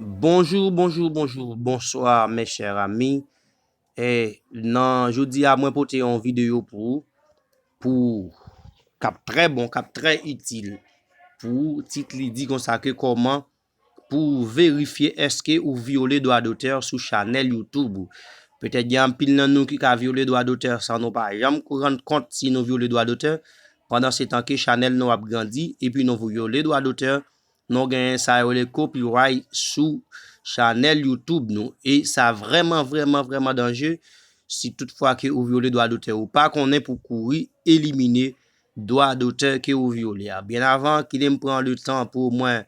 Bonjour bonjour bonjour bonsoir mes chers amis e nan jodi a mwen pote yon video pou ou pou kap trè bon kap trè itil pou ou tit li di konsa ke koman pou ou verifye eske ou vyole dwa dotè sou chanèl youtube ou petèt gen anpil nan nou ki ka vyole dwa dotè san nou pa janm kou rann kont si nou vyole dwa dotè pandan se tan ke chanèl nou ap grandi epi nou vyole dwa dotè Nou gen sa yo le copyright sou chanèl YouTube nou e sa vrèman vrèman vrèman danje si tout fwa ke ou vyole dwa dotè ou pa konnen pou kouri elimine dwa dotè ke ou vyole a. Byen avan, kite m pran le tan pou mwen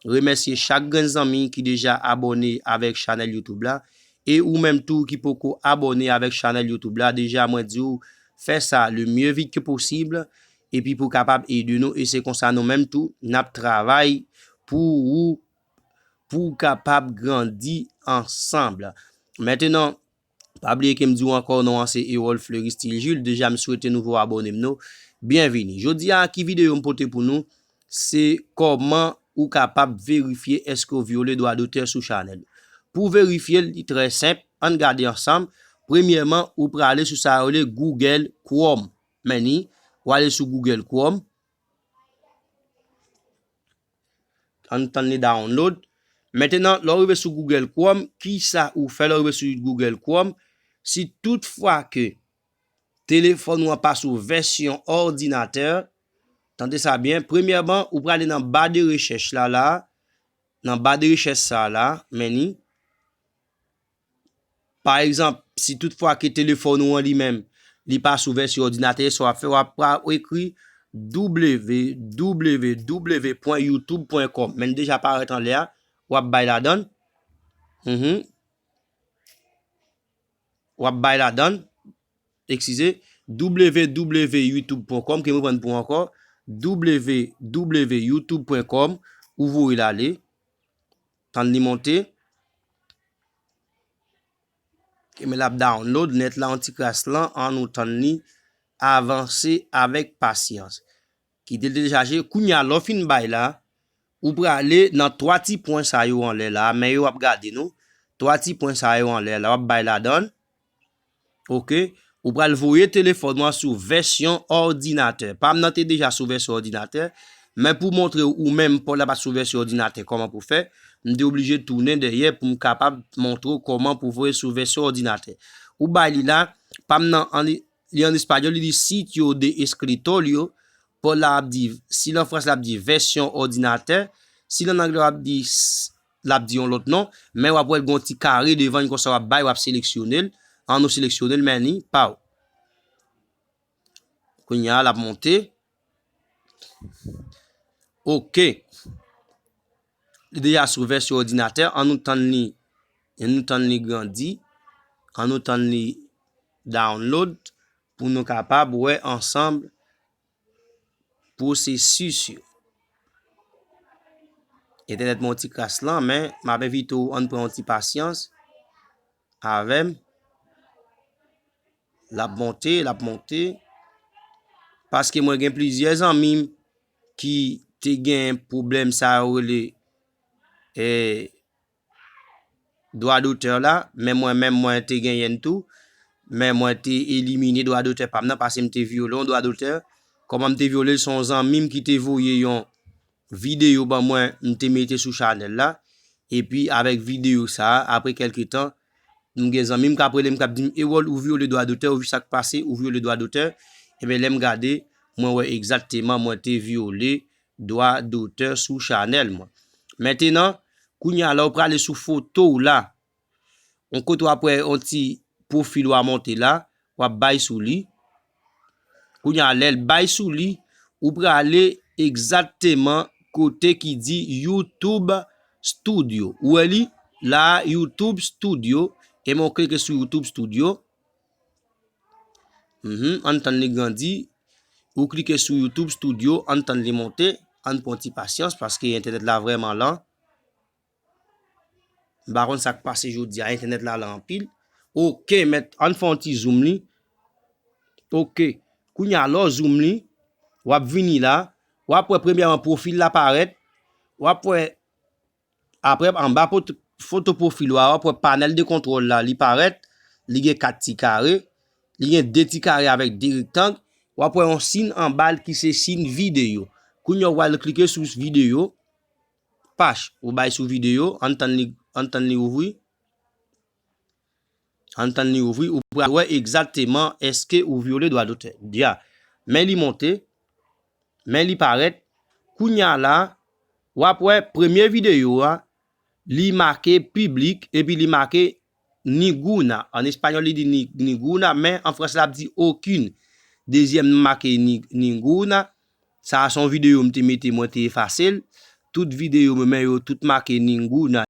remèsye chak grenn zanmi ki deja abòne avèk chanèl YouTube la e ou menm tou ki poko abòne avèk chanèl YouTube la deja mwen di ou fè sa le mieux vite que possible Epi pou kapab ede nou e se konsa nou menm tou nap travay pou ou pou ou kapab grandi ansanm. Mentenan pa bliye kem diw ankò non an se Erol Fleury Style Jules deja m swete nouvo abòne m no byenvini. Jodi a ki videyo m pote pou nou se kòman ou kapab verifye eske ou vyole dwa dotè sou chanèl ou. Pou verifye l li trè senp ann gade ansanm premyèman ou prale sou sa yo rele Google Chrome Meni, ou ale sou Google Chrome. An tann li download. Maintenant, lè ou rive sou Google Chrome, ki sa ou fè lè ou rive sou Google Chrome? Si tout fwa ke telefòn ou an pa sou vèsyon òdinatè, tande sa byen, premyèman, ou prale nan ba de rechèch la la, nan ba de rechèch sa la, meni. Pa egzanp, si tout fwa ke telefòn ou an li menm, li pa sou vèsyon òdinatè a, sa w ap fè, w ap pral ekri www.youtube.com, men li deja parèt anlè a, w ap bay ladann, w ap bay ladann, ekskize, www.youtube.com, ke m reprann pou ou ankò, www.youtube.com, ou voye l ale. Tann li monte. Ok men lap download net la yon ti kras lan an nou tann li avanse avek pasyans. Kitel telechaje kounya lè w fin bay la ou prale nan 3 ti pwen sa yo anlè la men yo ap gade nou 3 ti pwen sa yo anlè la wap bay ladann. Ok ou pral voye telefòn ou an sou vèsyon òdinatè pam nan te deja sou vèsyon òdinatè men pou montre ou menm paw la pat sou vèsyon òdinatè kòman pou fè m te oblije tounen dèyè pou m kapab montre ou kòman pou voye sou vèsyon òdinatè ou bay li la pam nan li an español li di sitio de escritorio paw la ap di si l an fransè l ap di vèsyon òdinatè si l an anglè l ap di lap di yon lòt non, men wap wèl gon ti kare devann konsa wap bay wap seleksyonel, an nou seleksyonel men li paw. Kounya lap monte. Ok. Li deja sou vèsyon òdinatè, an nou tann li, an nou tann li grandi, an nou tann li download pou nou kapab wè ansanm. Pwosesis yo. Entènèt mwen yon ti kras lan, men m ap envite ou an pran yon ti pasyans avè m. L ap monte, l ap monte. Paske mwen gen plizyè zanmi m ki te gen pwoblèm sa yo rele e. dwa dotè la, men mwen menm mwen te genyen l tou, men mwen te elimine dwa dotè pa m nan pase m te vyole yon dwa dotè, kòman m te vyole l se yon zanmi m ki te voye yon videyo ban mwen m te mete sou chanèl la, epi avèk videyo sa a apre kèlke tan m gen zanmi m k ap rele m k ap di m Erol ou vyole dwa dotè, ou sa k pase ou vyole dwa dotè, enben lè m gade mwen wè egzakteman mwen te vyole Dwa dotè sou chanèl mwen. Mentenan, kounya la ou prale sou foto ou la. On kote wap wè on ti pwofil ou a monte la, wap bay sou li. Kounya lèl bay sou li, ou prale egzatteman kote ki di YouTube Studio. Ou wè li? La a YouTube Studio, e men ou klike sou YouTube Studio. Ann tann li grandi. Ou klike sou YouTube studio, ann tann li monte. Ann pran ti pasyans paske entènèt la vrèman lan. M pa konn sa k pase jodi a, entènèt la lan anpil. Ok mèt, ann fè yon ti zoom li. Ok, kounye a lè w zoom li, w ap vini la. W ap wè premyèman pwofil la parèt. W ap wè Aprè anba foto pwofil ou a wap wè panèl de kontwòl la li parèt, li gen 4 ti kare, li gen 2 ti kare avèk 2 rektang, wap wè yon sin anbal ki se sin videyo. Kounya ou pral klike sou videyo, pach ou bay sou videyo, ann tann li ouvri. Ann tann li ouvri, ou pral wè egzakteman èske ou vyole dwa dotè. Dia, Men li monte, men li parèt, kounya la wap wè premye videyo a li make piblik epi li make niguna, an espanyòl li di ninguna men an fransè lap di aucune, dezyèm nan make ninguna, sa a son videyo m te mete mwen te efase l, tout videyo m men yo tout make ninguna.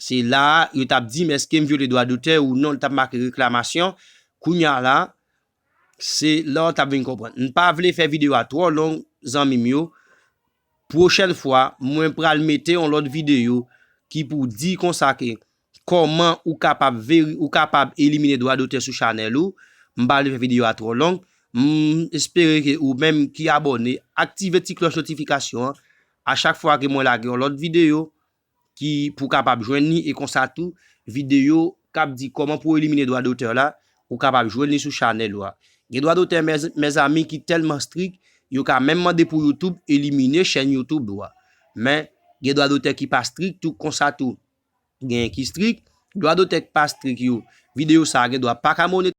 Se la a yo t ap di m èske m vyole dwa dotè ou non, li t ap make reklamasyon. Kounye a la, se la w t ap vin konprann. M pa vle fè videyo a twò long zanmi m yo, pwochèn fwa mwen pral mete yon lòt videyo ki pou di konsa ke kòman ou kapab veri, ou kapab elimine dwa dotè sou chanèl ou. M pa vle fè videyo a twò long. M espere ke ou menm ki abòne, aktive ti klòch notifikasyon an a chak fwa ke mwen lage yon lòt videyo. ki pou kapab jwenn li e konsa tou videyo kap di kòman pou elimine dwa dotè la ou kapab jwenn li sou chanèl ou a gen dwa dotè mezanmi ki tèlman strik yo ka menm mande pou youtube elimine chèn youtube ou a men gen dwa dotè ki pa strik tou konsa tou genyen ki strik dwa dotè ki pa strik yo videyo sa gen dwa paka monetize.